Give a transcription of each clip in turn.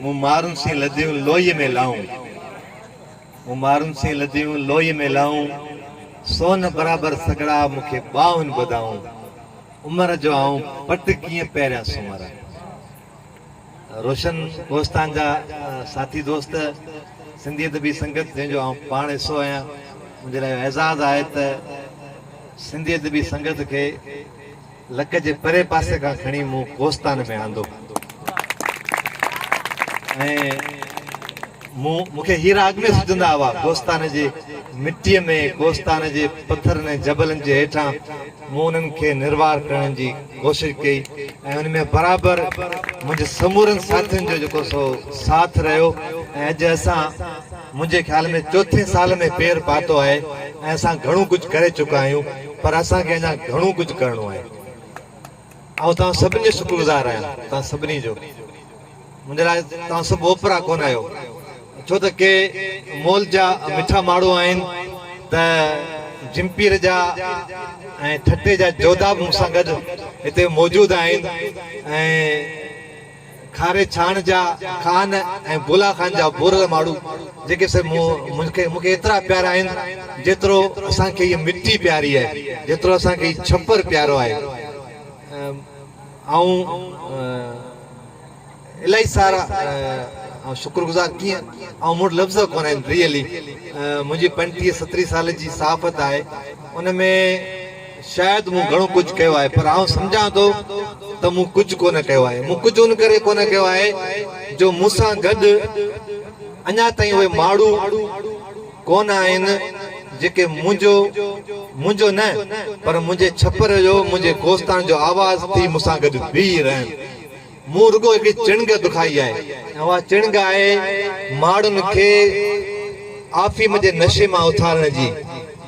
مون مارون سين لڌيون لوئيء ۾ لائون مون مارون سين لڌيون لوئيء ۾ لائون سونهن برابر سگهڙا مون کي ٻانهن ٻڌائون عمر جو آئون پٽ ڪيئن پهريان سماران روشن ڪوهستان جا ساٿي دوست سنڌي ادبي سنگت جنهن جو آئون پاڻ حصو آهيان منهنجي لاء اعزاز آهي ته سنڌي ادبي سنگت کي لڪ جي پري پاسي کان کڻي مون ڪوستان ۾ آندو ۽ مون مون کي هيرا اڳ ۾ سجهندا هئا ڪوستان جي مٽيء ۾ ڪوستان جي پٿرن ۽ جبلن جي هيٺان مون انهن کي نروار ڪرڻ جي ڪوشش ڪئي ۽ ان ۾ برابر منهنجي سمورن ساٿين جو جيڪو سو ساٿ رهيو ۽ اڄ اسان منهنجي خيال ۾ چوٿين سال ۾ پير پاتو آهي ۽ اسان گهڻو ڪجهه ڪري چڪا آهيون پر اسان کي اڃا گهڻو ڪجهه ڪرڻو آهي. آئون توهان سڀني جو شڪر گذار آهيان توهان سڀني جو. منهنجي لاء توهان سڀ اوپرا ڪونه آهيو ڇو ته ڪي مول جا مٺا ماڻهو آهن ته جمپير جا ۽ ٺٽي جا جوڌا به مون سان گڏ هتي موجود آهن ۽ کاري ڇاڻ جا خان ۽ بولا خان جا ڀورل ماڙهو جيڪي سي مون کي مون کي ايترا پيارا آهن جيترو اسان کي هيء مٽي پياري آهي، جيترو اسان کي هي ڇپر پيارو آهي. آئون الاهي سارا آئون شڪر گذار ڪيئن آئون مون وٽ لفظ ڪونه آهن ريئلي منهنجي پنٽيهه ستريهه سال جي صحافت آهي ان ۾ شايد مون گهڻو ڪجهه ڪيو آهي پر آئون سمجهان ٿو ته مون ڪجهه ڪونه ڪيو آهي. مون ڪجهه ان ڪري ڪونه ڪيو آهي جو مون سان گڏ اڃا تائين اهي ماڻهو ڪونه آهن جيڪي منهنجو، منهنجو نه پر منهنجي ڇپر جو، منهنجي ڪوستان جو آواز ٿي مون سان گڏ بيهي رهن. مون رڳو هڪڙي چڻگ دکائي آهي ۽ اها چڻگ آهي ماڙهن کي آفيم جي نشي مان اٿارڻ جي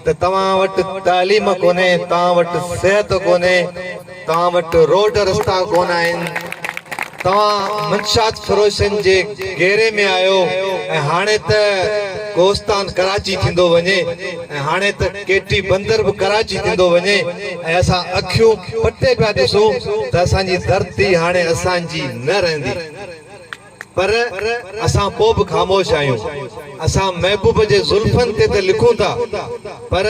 ته توهان وٽ تعليم ڪونهي، توهان وٽ صحت ڪونهي، توهان وٽ روڊ رستا ڪونه آهن، توهان منشيات فروشن جي گهيري ۾ آهيو ۽ هاڻي ته ڪوستان ڪراچي ٿيندو وڃي. ۽ هاڻي ته ڪي ٽي بندر به ڪراچي ٿيندو وڃي ۽ اسان اکيون پٽي پيا ڏسون ته اسان جي ڌرتي هاڻي اسان جي نه رهندي پر اسان پوء به خاموش آهيون اسان محبوب جي زلفن تي ته لکون ٿا پر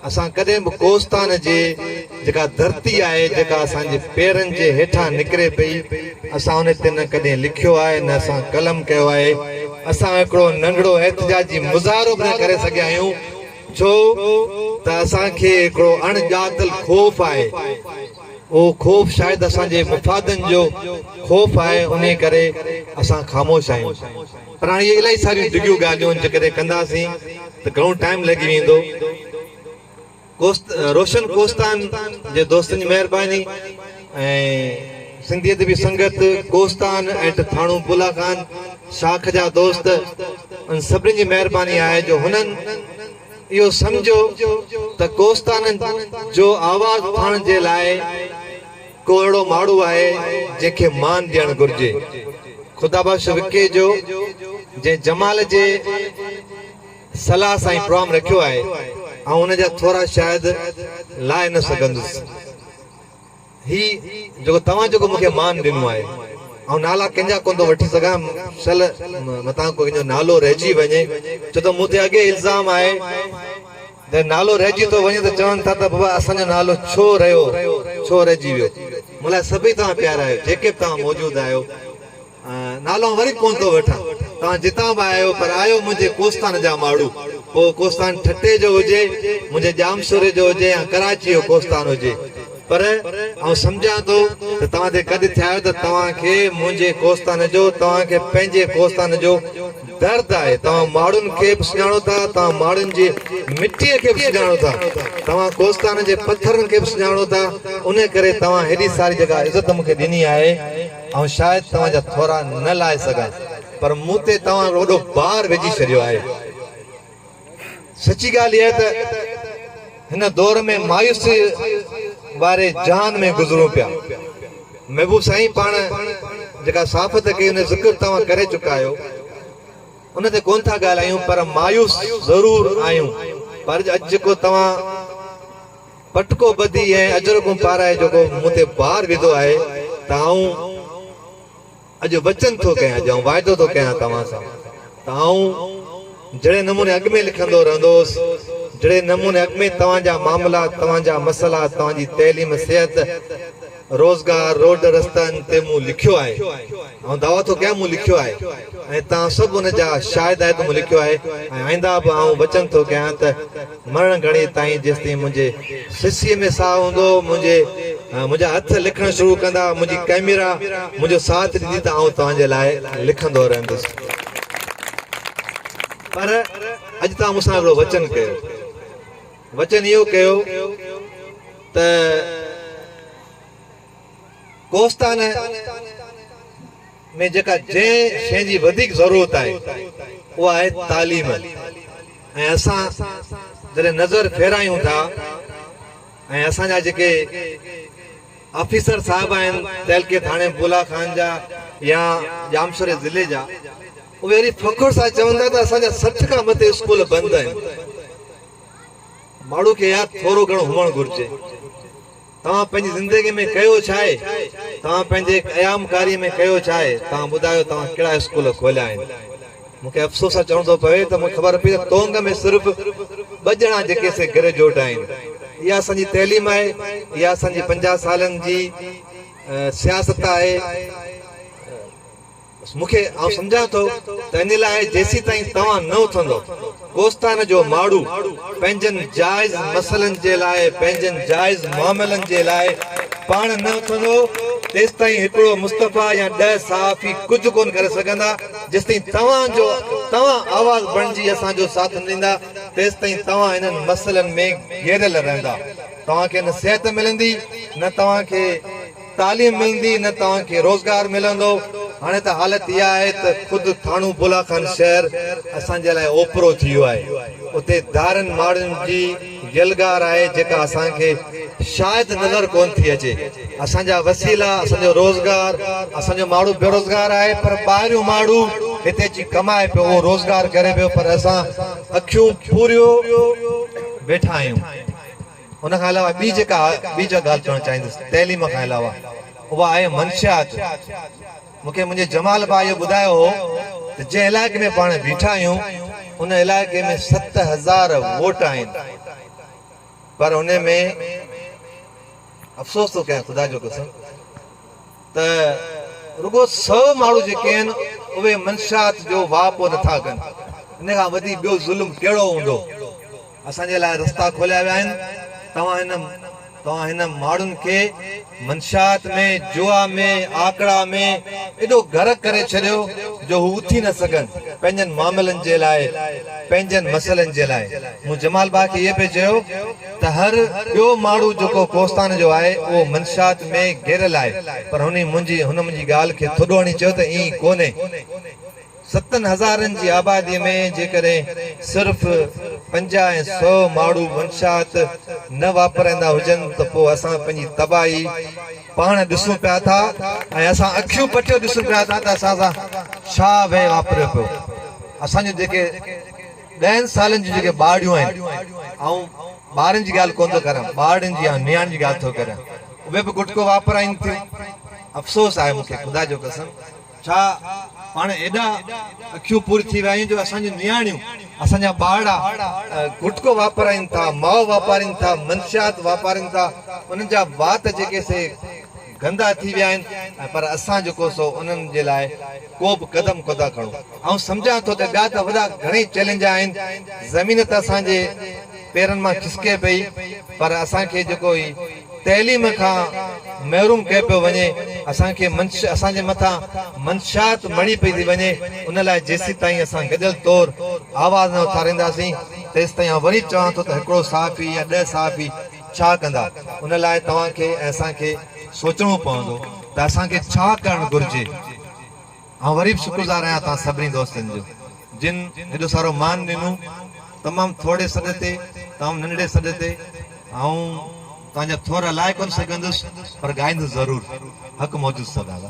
اسان ڪڏهن به ڪوستان جي جيڪا ڌرتي آهي، جيڪا اسان جي پيرن جي هيٺان نڪري پئي، اسان ان تي نه ڪڏهن لکيو آهي، نه اسان قلم ڪيو آهي. اسان هڪڙو ننڍڙو احتجاجي مظاهرو به نه ڪري سگهيا آهيون، ڇو ته اسان کي هڪڙو اڻ ڄاتل خوف آهي. اهو خوف شايد اسان جي مفادن جو خوف آهي، انهي ڪري اسان خاموش آهيون. پر هاڻي اهي الائي ساريون ڊگهيون ڳالهيون جيڪڏهن ڪنداسين ته گهڻو ٽائيم لڳي ويندو. روشن ڪوهستان جي دوستن جي مهرباني ۽ سنڌي ادبي سنگت ڪوهستان ۽ ٿاڻو بولا خان شاخ جا دوست انهن سڀني جي مهرباني آهي جو هنن اهو سمجهيو ته ڪوهستان جو آواز اٿائڻ جي لاء ڪو اهڙو ماڙو آهي جنهن کي مان ڏيڻ گهرجي خدا بخش وڪيجو جنهن جمال جي صلاح سان هي پروام رکيو آهي آئون ان جا ٿورا شاهد لائي نه سگهندس هي جيڪو توهان جيڪو مون کي مان ڏنو آهي آئون نالا ڪنهن جا ڪونه ٿو وٺي سگهان شل متان ڪنهن جو نالو رهجي وڃي ڇو ته مون تي اڳي الزام آهي جڏهن نالو رهجي ٿو وڃي ته چون ٿا ته بابا اسان جو نالو ڇو رهيو ڇو رهجي ويو مون لاء سڀئي توهان پيارا آهيو جيڪي به توهان موجود آهيو نالو وري ڪونه ٿو وٺان. توهان جتان به آهيو پر آهيو منهنجي ڪوستان جا ماڙهو. پوء ڪوستان ٺٽي جو هجي، منهنجي ڄامشوري جو هجي يا ڪراچي جو ڪوستان هجي. پر آئون سمجهان ٿو ته توهان تي ڪڏ ٿيا آهيو ته توهان کي منهنجي ڪوستان جو، توهان کي پنهنجي ڪوستان جو درد آهي. توهان ماڙهن کي به سڃاڻو ٿا، توهان ماڙهن جي مٽيء کي به سڃاڻو ٿا، توهان ڪوستان جي پٿرن کي به سڃاڻو ٿا، انهيء ڪري توهان هيڏي ساري جيڪا عزت مون کي ڏني آهي، آئون شايد توهان جا ٿورا نه لاهي سگهان پر مون تي توهان هڪڙو وڏو بار وجهي ڇڏيو آهي. سچي ڳالهه اها ته هن دور ۾ مايوسيء واري جهان ۾ گذرون پيا. محبوب سائين پاڻ جيڪا صحافت ڪئي ان جو ذڪر توهان ڪري چڪا آهيو ان تي ڪونه ٿا ڳالهايون پر مايوس ضرور آهيون پر اڄ جيڪو توهان پٽڪو ٻڌي ۽ اجرڪون پارائي جيڪو مون تي بار وڌو آهي ته آئون اڄ وچن ٿو ڪيان، اڄ آئون واعدو ٿو ڪيان توهان سان ته آئون جهڙي نموني اڳ ۾ لکندو رهندو هوس، جهڙي نموني اڳ ۾ توهان جا معاملا، توهان جا مسئلا، توهان جي تعليم، صحت، روزگار، روڊ رستن تي مون لکيو آهي. آئون دعويٰ ٿو ڪيان مون لکيو آهي ۽ توهان سڀ ان جا شاهد آهيو ته مون لکيو آهي ۽ آئنده به آئون وچن ٿو ڪيان ته مرڻ گهڙي تائين جيستائين منهنجي سسيء ۾ ساهه هوندو منهنجي منهنجا هٿ لکڻ شروع ڪندا منهنجي ڪئميرا منهنجو ساٿ ڏيندي ته آئون توهان جي لاء لکندو رهندس پر اڄ توهان مون سان هڪڙو وچن ڪيو. وچن اهو ڪيو ته ڪوهستان ۾ جيڪا جنهن شيء جي وڌيڪ ضرورت آهي اها آهي تعليم ۽ اسان جڏهن نظر ڦيرايون ٿا ۽ اسان جا جيڪي آفيسر صاحب آهن تعلقي ٿاڻي بولا خان جا يا ڄامشوري ضلعي جا اهي اهڙي فخر سان چون ٿا ته اسان جا سٺ کان مٿي اسڪول بند آهن ماڻهو کي اها ٿورو گهڻو هئڻ گهرجي. توهان پنهنجي زندگي ۾ ڪيو ڇا آهي؟ توهان پنهنجي قيام ڪاري ۾ ڪيو ڇا آهي؟ توهان ٻڌايو توهان ڪهڙا اسڪول کوليا آهن؟ مون کي افسوس سان چوڻو ٿو پوي ته مون کي خبر پئي ته تونگ ۾ صرف ٻه ڄڻا جيڪي سي گريجوئيٽ آهن. اها اسان جي تعليم آهي. اها اسان جي پنجاهه سالن جي سياست آهي. بس مون کي، آئون سمجهان ٿو ته ان لاء جيسيتائين توهان نه اٿندو، ڪوستان جو ماڙهو پنهنجن جائز مسئلن جي لاء، پنهنجن جائز معاملن جي لاء پاڻ نه اٿندو، تيستائين هڪڙو مصطفيٰ يا ڏهه صحافي ڪجهه ڪونه ڪري سگهندا، جيستائين توهان جو توهان آواز بڻجي اسان جو ساٿ نه ڏيندا، تيستائين توهان انهن مسئلن ۾ گهيريل رهندا، توهان کي نه صحت ملندي، نه توهان کي. تعليم ملندي نه توهان کي روزگار ملندو، هاڻي ته حالت اها آهي ته خود ٿاڻو بولا خان شهر اسان جي لاء اوپرو ٿي ويو آهي، اتي ڌارين ماڙهين جي يلغار آهي جيڪا اسان کي شايد نظر ڪونه ٿي اچي، اسان جا وسيلا، اسان جو روزگار، اسان جو ماڙهو بيروزگار آهي پر ٻاهريون ماڙهو هتي اچي ڪمائي پيو اهو روزگار ڪري پيو پر اسان اکيون ڦوريو ويٺا آهيون. ان کان علاوه ٻي جيڪا ٻي جا ڳالهه چوڻ چاهيندس تعليم کان علاوه اها آهي منشيات. مون کي منهنجي جمال ڀاء اهو ٻڌايو هو ته جنهن علائقي ۾ پاڻ بيٺا آهيون ان علائقي ۾ ست هزار ووٽ آهن پر ان ۾ افسوس ٿو ڪيان خدا جو قسم ته رڳو سو ماڻهو جيڪي آهن اهي منشيات جو واهپو نٿا ڪن ان کان وڌي ٻيو ظلم ڪهڙو هوندو. اسان جي لاء رستا کوليا ويا آهن توهان توهان هن ماڙهن کي منشيات ۾ جوا ۾ آڪڙا ۾ ايڏو غرق ڪري ڇڏيو جو هو اٿي نه سگهن پنهنجن معاملن جي لاء پنهنجن مسئلن جي لاء مون جمال باء کي اهي پئي چيو ته هر ٻيو ماڙهو جيڪو ڪوستان جو آهي اهو منشيات ۾ گهيريل آهي پر هن منهنجي هن منهنجي ڳالهه کي ٿڏو هڻي چيو ته ائين ڪونهي ستن هزارن جي آباديء ۾ جيڪڏهن صرف پنجاهه ۽ سؤ ماڙهو منشيات نه واپرائيندا هجن ته پوء اسان پنهنجي تباهي پاڻ ڏسون پيا ٿا ۽ اسان اکيون پٽيو ڏسون پيا ٿا ته اسان سان ڇا وهي واپريو پيو. اسان جون جيڪي ڏهن سالن جون جيڪي ٻارڙيون آهن، آئون ٻارن جي ڳالهه ڪونه ٿو ڪريان، ٻارڙين جي يا نياڻين جي ڳالهه ٿو ڪريان، اهي به گٽڪو واپرائين ٿيون. افسوس آهي مون کي خدا جو قسم. ڇا پاڻ ايڏا اکيون پوري ٿي ويا آهيون جو اسان جون نياڻيون، اسان جا ٻارڙا گٽڪو واپارين ٿا، مئو واپارين ٿا، منشيات واپارين ٿا، انهن جا وات جيڪي سي گندا ٿي ويا آهن ۽ پر اسان جيڪو سو انهن جي لاء ڪو به قدم ڪوٿا کڻون. آئون سمجهان ٿو ته ٻيا ته وڏا گهڻئي چئلينج آهن، زمين ته اسان جي. پيرن مان کسڪي پئي پر اسان کي جيڪو هي تعليم کان محروم ڪيو پيو وڃي اسان کي منش اسان جي مٿان منشيات مڙهي پئي ٿي وڃي ان لاء جيسيتائين اسان گڏيل طور آواز نه اٿارينداسين تيستائين آئون وري چوان ٿو ته هڪڙو صحافي يا ڏهه صحافي ڇا ڪندا ان لاء توهان کي ۽ اسان کي سوچڻو پوندو ته اسان کي ڇا ڪرڻ گهرجي. آئون وري به شڪرگذار آهيان توهان سڀني دوستن جو جن هيڏو سارو مان ڏنو. تمام ٿورڙي سڏ تي، تمام ننڍڙي سڏ تي. آئون توهان جا ٿورا لائي ڪونه سگهندس پر ڳائيندس ضرور. حق موجود سدا دا.